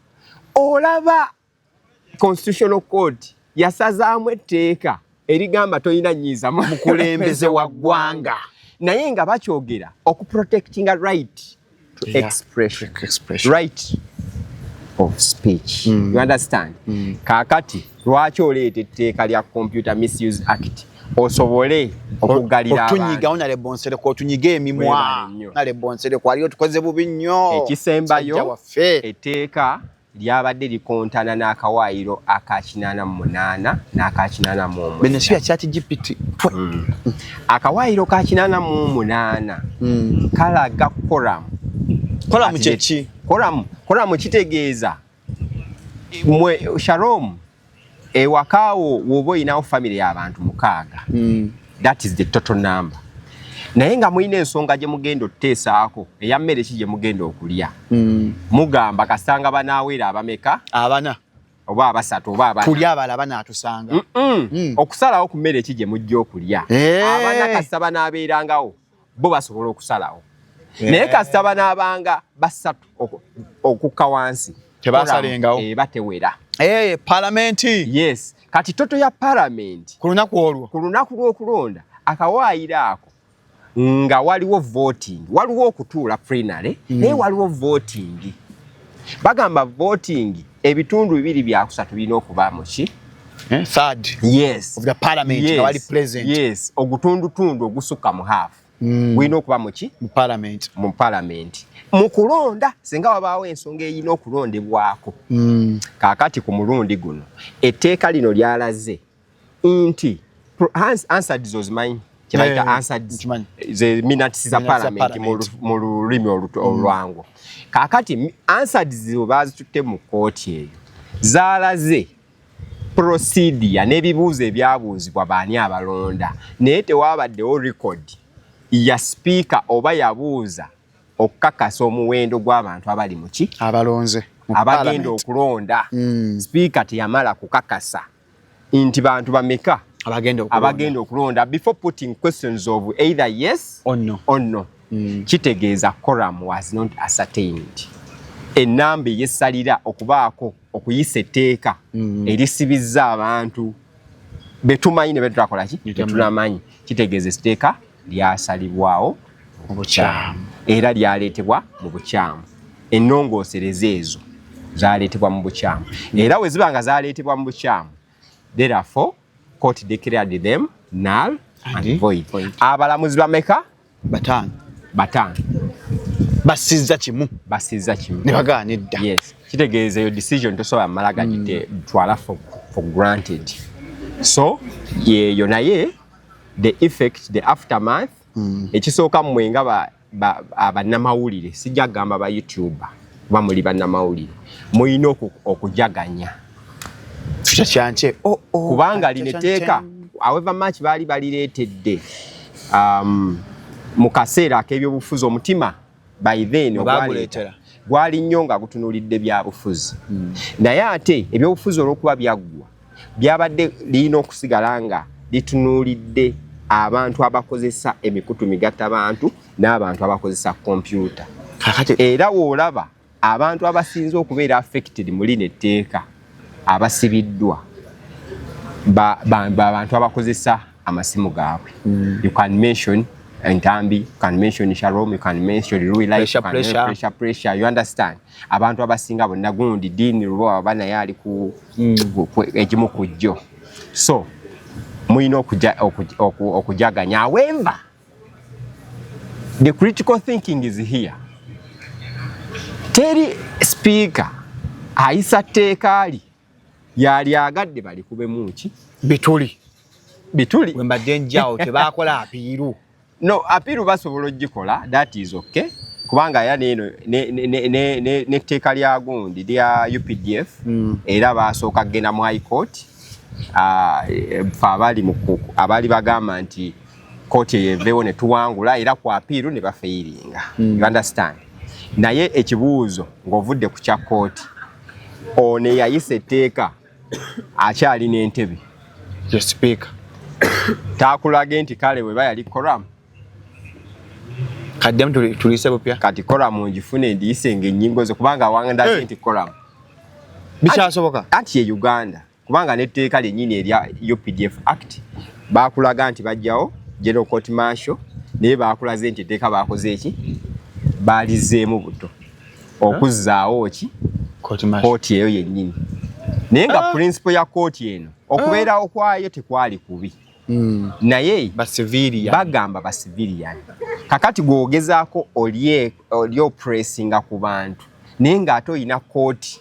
olaba constitutional court yasazaamu etteeka erigamba tolina nyiiza mukulembeze wa ggwanga naye nga bakyogera okuprotectinga right to yeah. expression. expression right of speech mm. you understand mm. kakati lwaki oleeta etteeka lya computer misuse act osobole okugalira otunyiga onale bonsere ko otunyiga emimwa nale bonsere ko aliyo tukoze bubi nnyo ekisembayo eteeka lyabadde likontana n'akawaayiro aka kinaana mu munaana n'aka kinaana mu omwenda. Bino si bya kyati GPT. Mm. Akawaayiro ka kinaana mu omunaana mm. kalaga koramu. Koramu kye ki? Koramu, koramu kitegeeza mwe Shalom ewaka wo woba olinawo famire y'abantu mukaaga hmm. that is the total number naye nga mulina ensonga gye mugenda okuteesaako eya mmere ki gye mugenda okulya hmm. mugamba kasanga banaaweera abameka abana oba abasatu oba abana kulya abala banaatusanga hmm. okusalawo ku mmere ki gye mujja okulya eh. abana kasita banaabeerangawo bo basobola okusalawo naye kasita banaabanga basatu okukka wansi tebasalengawo eba tewera eh, palamenti yes kati toto ya palamenti ku lunaku olwo ku lunaku lw'okulonda akawaayiro ako nga waliwo voting waliwo okutuula prinary naye waliwo voting bagamba voting ebitundu bibiri byakusatu birina okuba muki eh, third yes of the parliament yes. wali present yes ogutundutundu ogusukka mu half mm. gulina okuba muki mu parliament mu parliament mu kulonda singa wabaawo ensonga erina okulondebwako mm. kaakati ku mulundi guno etteeka lino lyalaze nti Hans answered those mine kyebayita answered the minutes za parliament mu lulimi mm. olwangu kakati answered zibo bazitutte mu kooti eyo zaalaze procedure n'ebibuuzo ebyabuuzibwa baani abalonda naye tewabaddewo record ya sipiika oba yabuuza okukakasa omuwendo gw'abantu abali muki abalonze abagenda okulonda mm. sipiika teyamala kukakasa nti bantu bameka abagenda okulonda abagenda okulonda before putting questions of either yes or no or no mm. kitegeeza quorum was not ascertained enamba eyesalira okubaako okuyisa etteeka mm. erisibizza abantu betumanyi ne betutakolaki tetunamanyi kitegeeza etteeka lyasalibwawo mu bukyamu era lyaleetebwa mu bukyamu ennongoosereza ezo zaleetebwa mu bukyamu era we ziba nga zaleetebwa mu bukyamu therefore court declared them null and void abalamuzi bameka bataano bataano basizza kimu basizza kimu ne bagaana edda yes kitegeeza eyo decision tosobola mala gagite mm. twala for, for granted so yeyo naye the effect the aftermath mm. ekisooka mmwe nga bannamawulire ba, ba, sijja kugamba ba youtuber kuba muli bannamawulire mulina okujaganya oh, oh, kubanga lino etteeka however much baali balireetedde um, mu kaseera ak'ebyobufuzi omutima by then ogwaleeta gwali nnyo nga gutunulidde byabufuzi hmm. naye ate ebyobufuzi olwokuba byaggwa byabadde lirina okusigala nga litunulidde abantu abakozesa emikutu migatta bantu n'abantu abakozesa kompyuta era woolaba abantu abasinze okubeera affected mu lino etteeka abasibiddwa babantu abakozesa amasimu gaabwe mm. you can mention entambi you can mention shalom you can mention Louis life pressure, pressure. pressure pressure you understand abantu abasinga bonna gundi dini lubo baba naye ali ku mm. egimu ku jjo so mulina okujaganya awemba The critical thinking is here. Teri speaker ayisa tteeka li yali agadde balikubemu ki bituli bituli we mbadde njawo tebakola apiiru no apiiru basobola ogikola that is okay kubanga ya neeno netteeka lya gundi lya updf mm. era basooka kugenda mu high court ah, e, e, fe abali bagamba nti kooti eyo eveewo ne tuwangula era ku apiiru ne bafeyiringa mm. you understand naye ekibuuzo ng'ovudde ku kya kooti ono eyayisa etteeka akyali n'entebe ye sipiika taakulage nti kale weba yali koramu kaddemu tulise bupya kati koramu ngifune ndiyise ng'ennyingo ze kubanga awandaze nti koramu bikyasoboka anti ye uganda kubanga n'etteeka lyennyini erya updf act baakulaga nti bajjawo general court martial naye baakulaze nti etteeka baakoze eki baalizeemu buto okuzzaawo ki kooti eyo yennyini naye nga ah. principle ya kooti eno okubeerawo ah. kwayo tekwali kubi hmm. naye bagamba basiviliyani kakati gwogezaako olyopressinga ku bantu naye ng'ate olina kooti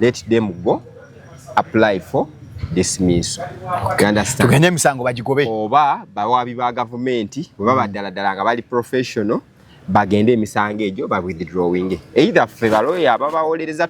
let them go apply for dismissal tugende emisango bagigobe oba bawaabi ba gavumenti bwe baba ddala ddala nga bali professional bagende emisango egyo ba withdrawing either ffe baloya ababawolereza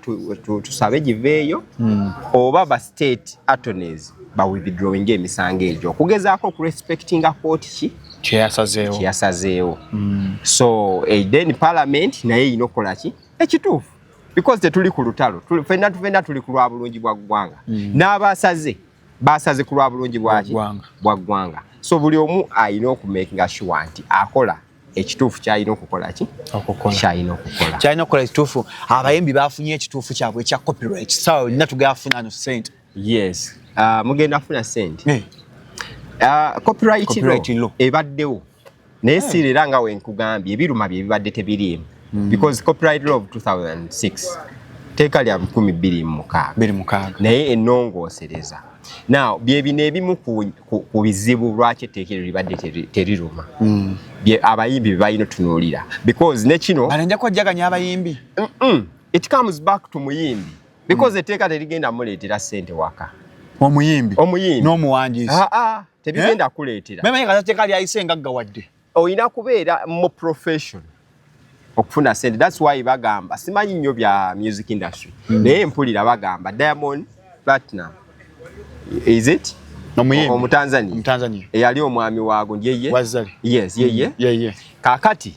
tusabe giveeyo hmm. oba ba state attorneys ba withdrawing emisango egyo okugezaako okurespectinga kooti ki kyeyasazeewo kyeyasazeewo hmm. so eh, then parliament naye erina okukola ki ekituufu because tetuli ku lutalo fenna tufenna tuli ku lwa bulungi bwa ggwanga mm. n'abasaze basaze ku lwa bulungi bwaki bwa ggwanga so buli omu alina okumakinga shuwa nti akola ekituufu kyalina okukola ki kyalina okukola kyalina okukola ekituufu abayimbi bafunye ekituufu kyabwe ekya copyright sawa olina tugafuna no sente yes uh, mugenda funa sente hey. uh, copyright, copyright law ebaddewo naye hey. siira era nga wenkugambye ebiruma bye bibadde tebiriimu mm. because copyright law of 2006 teeka lya 226 naye enongoosereza now byebino ebimu ku bizibu lwaki etteeka eryo libadde teriruma mm. abayimbi bebalina otunuulira because nekino nja kwajjaganya abayimbi it comes back to muyimbi because mm. etteeka terigenda muleetera sente waka omuyimbi omuyimbi n'omuwandiisi ah, ah, tebigenda eh? kuleetera memanyi kata tteeka lyayise ngagga wadde olina kubeera mu profession okufuna sente thats why bagamba simanyi nnyo bya music industry mm. naye mpulira bagamba diamond platinum is it omutanzania eyali omwami waago yeye yes yeye mm. kakati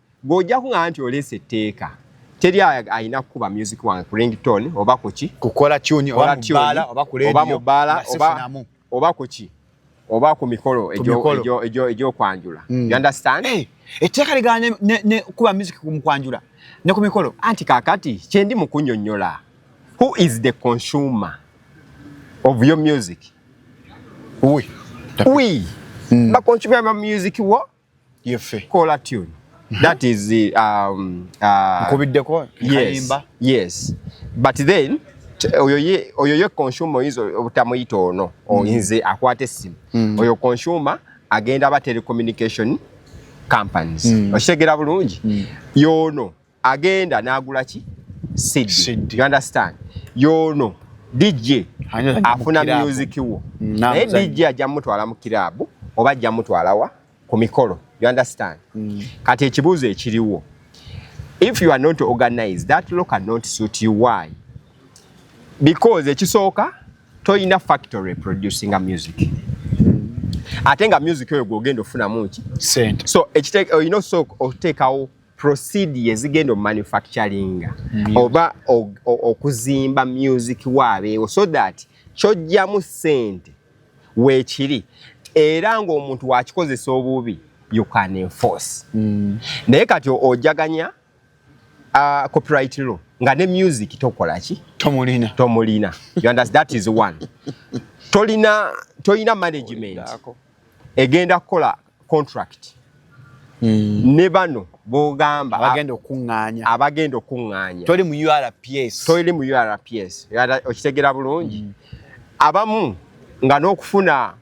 gwe ojja kuŋaa nti oleesa etteeka teri alina kukuba music wange ku ringtone oba kuki kukola tuni oba mu bbaala oba kuki oba ku mikolo egyokwanjula mm. you understand eh, etteeka ligana nekukuba music mukwanjula ne ku mikolo anti kakati kyendi mu kunyonyola who is the consumer of your music we, we. Mm. bakonsumer ba music wo yeffe kola tune mhm. that is um uh, nkubiddeko yes, yes but then oyo ye oyo ye consumer oyinza obutamuyita ono mhm. oyinze akwata essimu mhm. oyo consumer agenda aba telecommunication companies okitegera bulungi yoono agenda nagula ki sidi you understand yono DJ afuna music wo mm, naye DJ ajja mutwala mu kirabu oba ajja mutwala wa ku mikolo you understand mm. kati ekibuuzo ekiriwo if you are not organized that law cannot suit you why because ekisooka toyina factory producing a music mm. ate nga music oyo gwogenda ofunamu ki so oyina osooka oteekawo procedure ezigenda omanufacturinga oba okuzimba music waabeewo so that kyojjamu sente weekiri era ng'omuntu wakikozesa obubi you can enforce mm. naye kati ojaganya uh, copyright law nga ne music tokola ki tomulina tomulina you understand that is one tolina tolina management egenda kukola contract hmm. ne bano bogamba abagenda okuŋŋaanya abagenda okuŋŋaanya toli mu URPS toli mu URPS okitegera bulungi hmm. abamu nga n'okufuna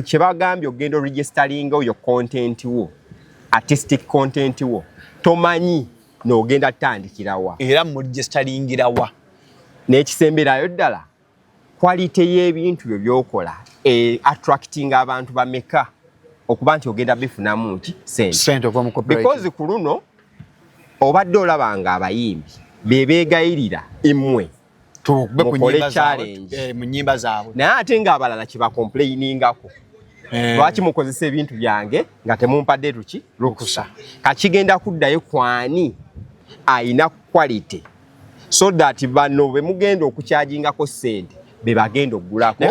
kye bagambye okugenda oregisteringa oyo content wo artistic content wo tomanyi n'ogenda tutandikirawa era muregisteringira wa n'ekisemberayo ddala Quality y'ebintu byo byokola e attracting abantu bameka okuba nti ogenda bifunamu nti sente because ku luno obadde olabanga abayimbi bebegayirira imwe mukole challenge eh, mu nyimba zaabwe naye ate nga abalala kyebakomplainingako eh. lwaki mukozesa ebintu byange nga temumpadde tuki lukusa kakigenda kuddayo kwani ayina quality so that bano bemugenda okukyajingako sente bebagenda okugulako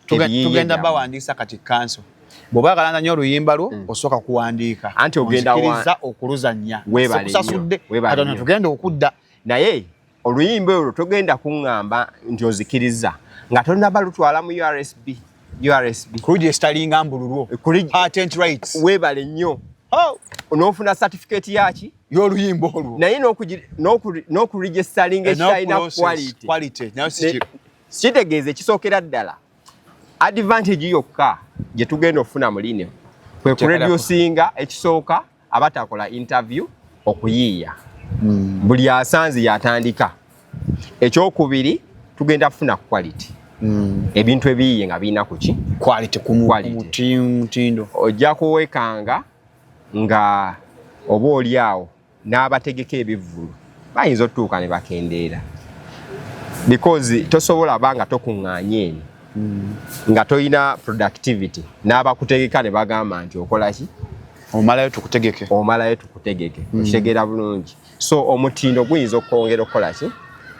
tugenda bawandiisa kati kanso bwoba agalanga nyo oluyimba lwo mm. osooka kuwandiika anti ogendaikiriza okuluzannya webalesasudde katono tugenda okudda naye oluyimba olwo togenda kuŋŋamba nti ozikiriza nga tonaba lutwala mu ursb ursb kuligestalinga mbululwo eh, webale nnyo oh! onofuna satifiketi yaki y'oluyimba olwo naye n'okuregistalinga ekitalina quality kitegeeza ekisookera ddala advantage yokka gye tugenda okufuna mu lino kwe kuredusinga ekisooka abatakola interview okuyiiya hmm. buli asanze yatandika ekyokubiri tugenda kufuna quality hmm. ebintu ebiyiye nga birina kuki quality kumutindo ojja kuwekanga nga oba oli awo n'abategeka ebivvulu bayinza otutuuka ne bakendeera because tosobola ba nga tokuŋŋaanye eno hmm. nga tolina productivity n'abakutegeka ne bagamba nti okola ki omalayo tukutegeke omalayo tukutegeke hmm. okitegeera bulungi so omutindo guyinza okwongera okukola ki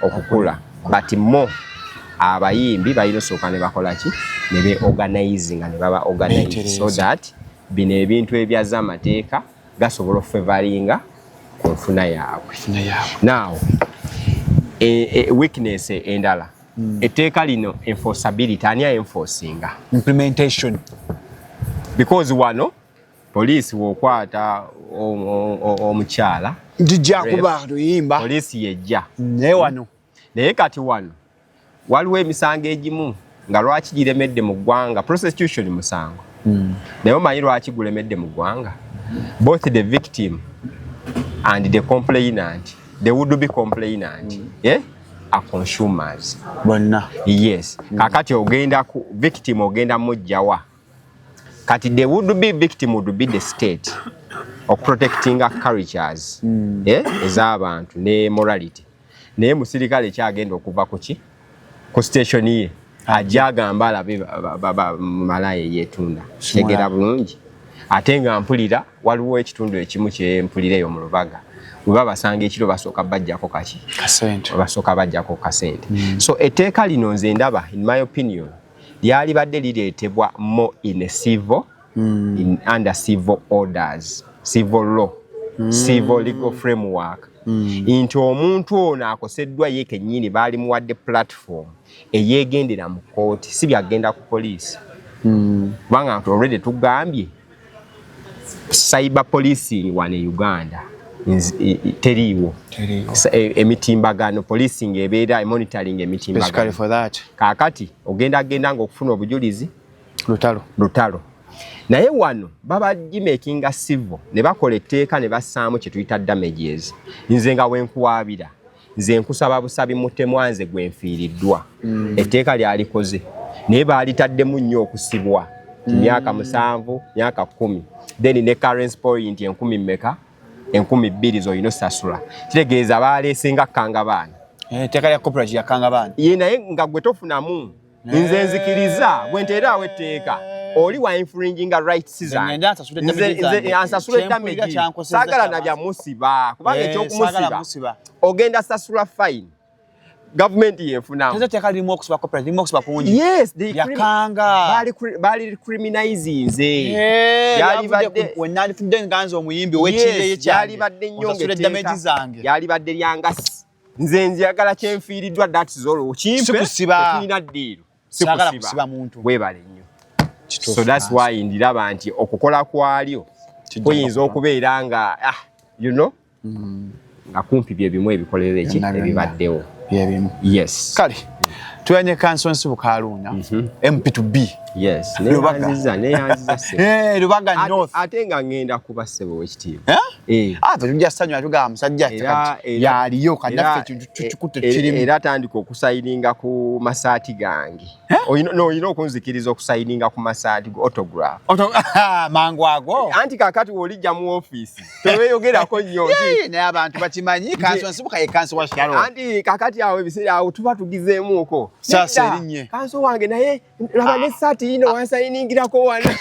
okukula but mo abayimbi balina osooka ne bakola ki ne beorganize nga ne baba organize so that bino ebintu ebyazza amateeka gasobola okufevalinga ku nfuna yaabwe naawo e, e, weakness endala hmm. etteeka lino enforceability ani aenforcinga implementation because wano poliisi wokwata omukyala jijjakuba luyimba poliisi yejja naye wano naye kati wano waliwo emisango egimu nga lwaki giremedde mu ggwanga prosecution musango hmm. naye omanyi lwaki gulemedde mu ggwanga both the victim and the complainant the would be complainant hmm. eh? a consumers bonna yes hmm. kakati ogenda ku victim ogenda mujjawa kati the would be victim would be the state of protecting cultures eh? ez'abantu ne morality naye musirikale ki agenda okuva kuki ku station ye ajja agamba alabe malaaya eyetunda kitegera bulungi ate nga mpulira waliwo ekitundu ekimu kyempulira eyo mu lubaga weba basanga ekiro basooka bajjako kaki basooka bajjako kasente mm. so etteeka lino nze ndaba in my opinion lyalibadde lireetebwa mo in a civil mm. in under civil orders civil law mm. civil legal framework mm. nti omuntu ono akoseddwa ye kennyini baali muwadde platform eyegendera mu kooti si byagenda ku poliisi mm. kubanga mm. nti olwede tugambye cyber policing wano e uganda teriiwo e, emitimbagano policing ebeera emonitoring emitimbagano kakati ogenda agenda nga okufuna obujulizi lutalo lutalo naye wano baba gimakinga civil ne bakola etteeka ne bassaamu kye tuyita damages nze nga wenkuwaabira nze nkusaba busabi mutemwa nze gwe nfiiriddwa mm. etteeka lyalikoze naye baalitaddemu nnyo okusibwa mm. myaka musanvu myaka kumi then ne currency point enkumi mmeka enkumi bbiri zolina osasula kitegeeza baaleese nga kkangabaana etteeka eh, lya corporate yakkangabaana ye naye nga gwe tofunamu nze nzikiriza bwe nteeraawo etteeka oli wa infringinga rights zange ansasula edamage saagala na bya musiba kubanga eh, ekyokumusiba ogenda sasula fine gavumenti yefunambaali criminaizinze yalibadde nyongeteeka yalibadde lyangasi nze njagala kyenfiiriddwa that's all kimpe tulina ddiiro sikusiba webale nnyo so that's why ndiraba nti okukola kwalyo kuyinza okubeera nga ah, you know mm. nga kumpi bye bimu ebikolero eki ebibaddewo byebimu yes kale tuyanye kanso nsibuka aluunya mp to b lubaga nnyo ate nga ngenda kuba ssebo wekitiibwa eh? Eh. Ah, tujja sanywa tuga musajja yaliyo kanaffe kintu kikutte kirimu era atandika okusayininga ku masaati gange oyina okunzikiriza okusayininga ku masaati go autograph ah, mangu ago anti kakati wolijja mu ofiisi teweyogerako nnyo naye abantu bakimanyi kansi nsibuka ye kansi wa shalo anti kakati awo ebiseera awo tuba tugizeemuuko sasa erinnye kansi wange naye laba ne saati yino ah. wansayiningirako wana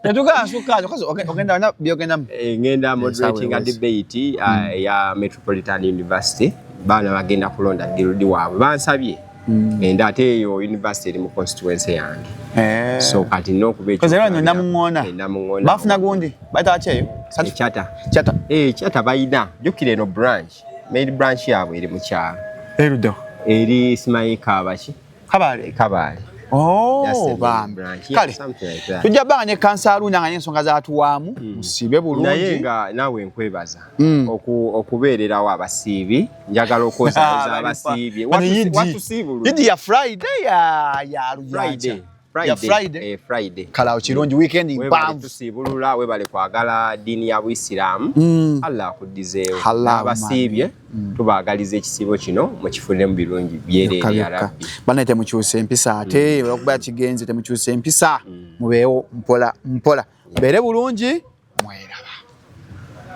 Natuka asuka because ogenda na byogenda eh, ngenda moderating a debate uh, hmm. ya Metropolitan University baana bagenda kulonda girudi waabwe bansabye hmm. enda ate eyo university eri mu constituency yange eh. so kati nokuba ekyonamuŋona eh, bafuna gundi bayita bakyeyo kyata kyata kyata bayina jukira eno branch main branch yaabwe eri mukyalo erudo eri simayika abaki Kabale. Kabale. Oh, bambi. Kale. Like Tujja banga ne kansalu nanga ne nsonga za tuwamu. Mm. Sibe bulungi. Naye nga nawe nkwebaza. Mm. Oku okubeerera wa basibi. Njagala okoza za basibi. Watu watu sibu. Idi ya Friday ya ya Friday. Eh, kala okirungi mm. weekend mpanvu tusiibulula webale kwagala ddiini ya buisiraamu mm. allah akuddizeewo abasiibye mm. tubaagaliza ekisiibo kino mukifunemu birungi byereere ya rabbi bana temukyusa empisa ate olwokuba kigenze temukyusa empisa mubeewo mpola mpola mubeere bulungi mweraba